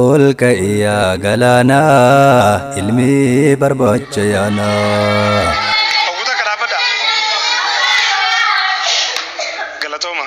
Ol ka'i yaa galaana ilmi barbaacha yaana. Hawwata akka dhaabbadha. Galatooma.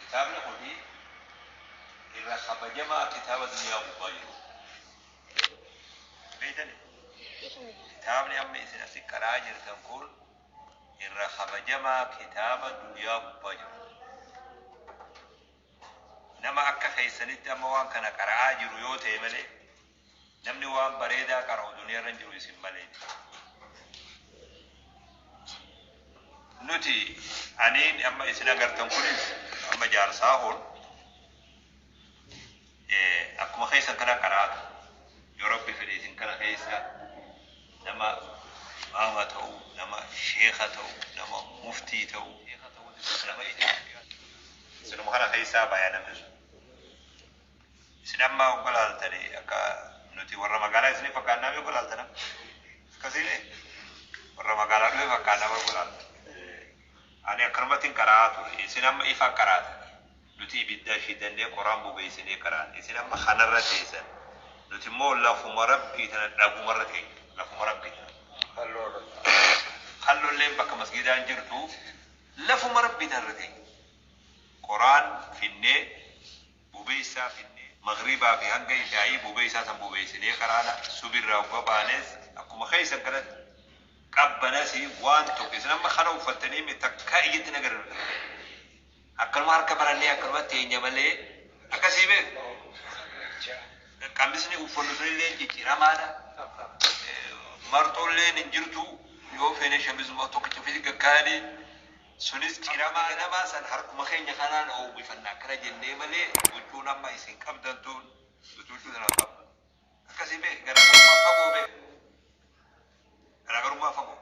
Kitaabni kun irra kabajamaa kitaaba duniyaa gubbaa jiruu. Beeytani? Kitaabni amma isin asi qara'aa jirtan kun irra kabajamaa kitaaba duniyaa gubbaa jiru. Nama akka keessanitti amma waan kana qara'aa jiru yoo ta'e malee Namni waan bareedaa qara'u duniyaarra hin jiru isin malee. Nuti aniin amma isin agartan kunis amma jaarsaa hoon akkuma keessan kana qaraatu yoo rabbi fedhe isin kana keessa nama maama ta'u nama sheeka ta'u nama muftii ta'u nama isin kana keessaa baya namni sun. Isin amma ogga laaltani akka nuti warra magaalaa isiniif fakkaannaa mee ogga laaltana? Akkasii ree? Warra magaalaa dhufe fakkaannaa mee ogga laaltan? Ani akkanumattin qara'aa ture. Isin amma ifa qaraatan. Nuti ibidda shidannee qoraan bobeessinee qaraana. Isin amma kanarra teessan. Nuti immoo lafuma Rabbii tana dhabumarra teenya. Lafuma Rabbii tana. Kallolleen bakka masgiidaa hin jirtu. Lafuma Rabbii tanarra teenya. Qoraan finnee Bubeessaa finnee maghriibaa fi hanga ishaa'ii bubeessaa san bubeessinee karaadha subhi irraa hogga baanees akkuma keessan kanatti qabbanasi waan tokko isin amma kana uffattanii mi takkaa ijatti nagarre nu takkaa ijatti akkanuma harka marannee akkanuma teenya malee akkasii beektu qamisni uffannu sunillee jijjiramaadha marxoolleen hin jirtu yoo feene shamizuma tokkicha ofitti gaggaayanii Sunis ciramaa namaa san harkuma keenya kanaan oowwifanna akkana jennee malee huccuun amma isin qabdan tun nuti huccuu tana hin qabnu. Akkasii beeki garaagarummaa fagoo beeki. Garaagarummaa fagoo.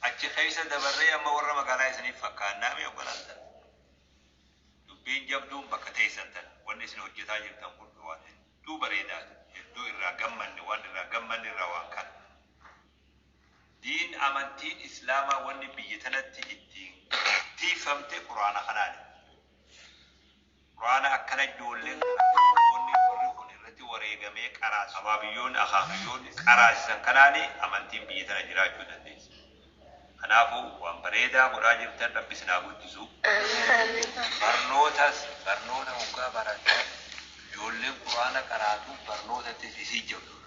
Achi keessa dabarree amma warra magaalaa isiniif fakkaannaa mee obbolaan tana. Dubbiin jabduun bakka teessan tana. Wanni isin hojjetaa jirtan kun waan hedduu bareedaati. Hedduu irraa gammanne waan irraa gammanne irraa waan kana. Diin amantiin islaamaa wanni biyya tanatti ittiin tiikfamte qur'aana kanaani. Qur'aana akkana ijoolleen kana dargaggoonni warri kun irratti wareegamee qaraase abaabiyyoonni akaakayyoonni qaraasisan kanaani amantiin biyya tana jiraachuu dandeessi. Kanaafu waan bareedaa godhaa jirtan rabbi isin haa guddisu. Barnootas barnoota hoggaa barattan ijoolleen qur'aana qaraatu barnootattis isiin jabduudha.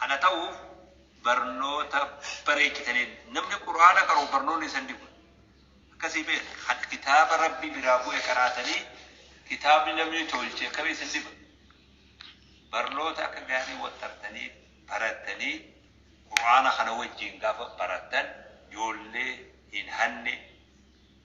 Kana ta'uuf barnoota bareechitaniin. Namni Qur'aana qara'u barnoonni isa hin dhibu. Akkasii beekta. Kan kitaaba Rabbii biraa bu'e qaraatanii kitaabni namni tolche akkami isin dhiba? Barnoota akka gaarii waxxartanii barattanii Qur'aana kana wajjin gaafa barattan ijoollee hin hanne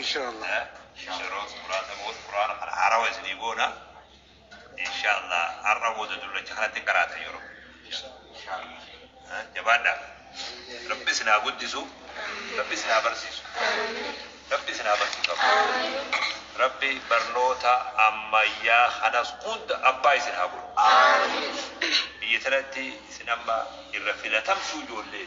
inshallah yeroo muraasa booda quraana kana haarawa isinii goona inshallah har'a booda dullacha kanatti hin qaraatan yeroo jabaadhaa rabbi isin haa guddisu rabbi isin haa barsiisu rabbi isin haa barsiisu rabbi barnoota ammayyaa kanas hunda abbaa isin haa godhu biyya tanatti isin amma irra filatamtuu ijoollee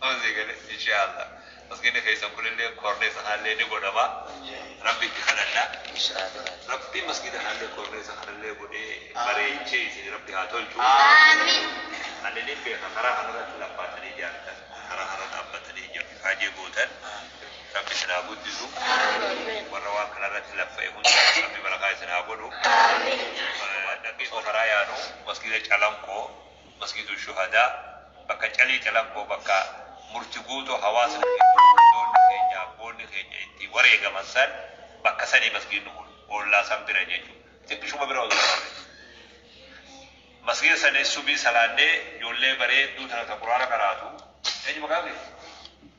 Amma sii gale inshaalla masgini keessan kunillee koorneesa kaallee ni godhama rabbi itti kadhanna rabbi masgida kaallee koorneesa kanallee godhee bareechee isin rabbi haa tolchu ani nin beeka karaa kanarratti lammaatanii ijaartan karaa kanarra dhaabbatanii ija faajee gootan rabbi isin haa guddisu warra waan kanarratti laffa'e hunda rabbi barakaa isin haa godhu dhaggeeffa karaa yaanu masgida calanqoo Masgiidul Shuhadaa, bakka Calii Calanqoo bakka murti guutuu hawaasni keenya, ijoolli keenya, abboonni keenya itti wareegaman san bakka sani masgiidni kun. Ollaa san bira jechu. Xiqqishuma bira osoo taate. Masgiida sanis subii salaannee ijoollee bareedduu tana ta Qur'aana qaraatu. Eenyu maqaan kee?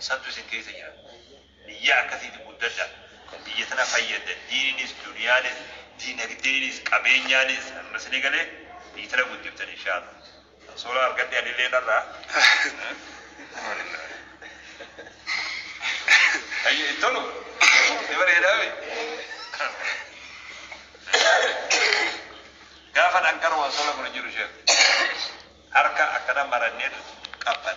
Santu isin keessa jira. Biyya akkasiiti guddadha. Kan biyya tana fayyadda diininis, duniyaanis, diinagdeenis, qabeenyaanis amma sini galee biyyi tana guddiftan inshaalla. Kan soolaa argadhe anillee narraa. Ayyo hin tolu. Ni bareedaa mi? Gaafa dhanqara waan sola kun hin jiru sheekh. Harka akkana marannee qabban.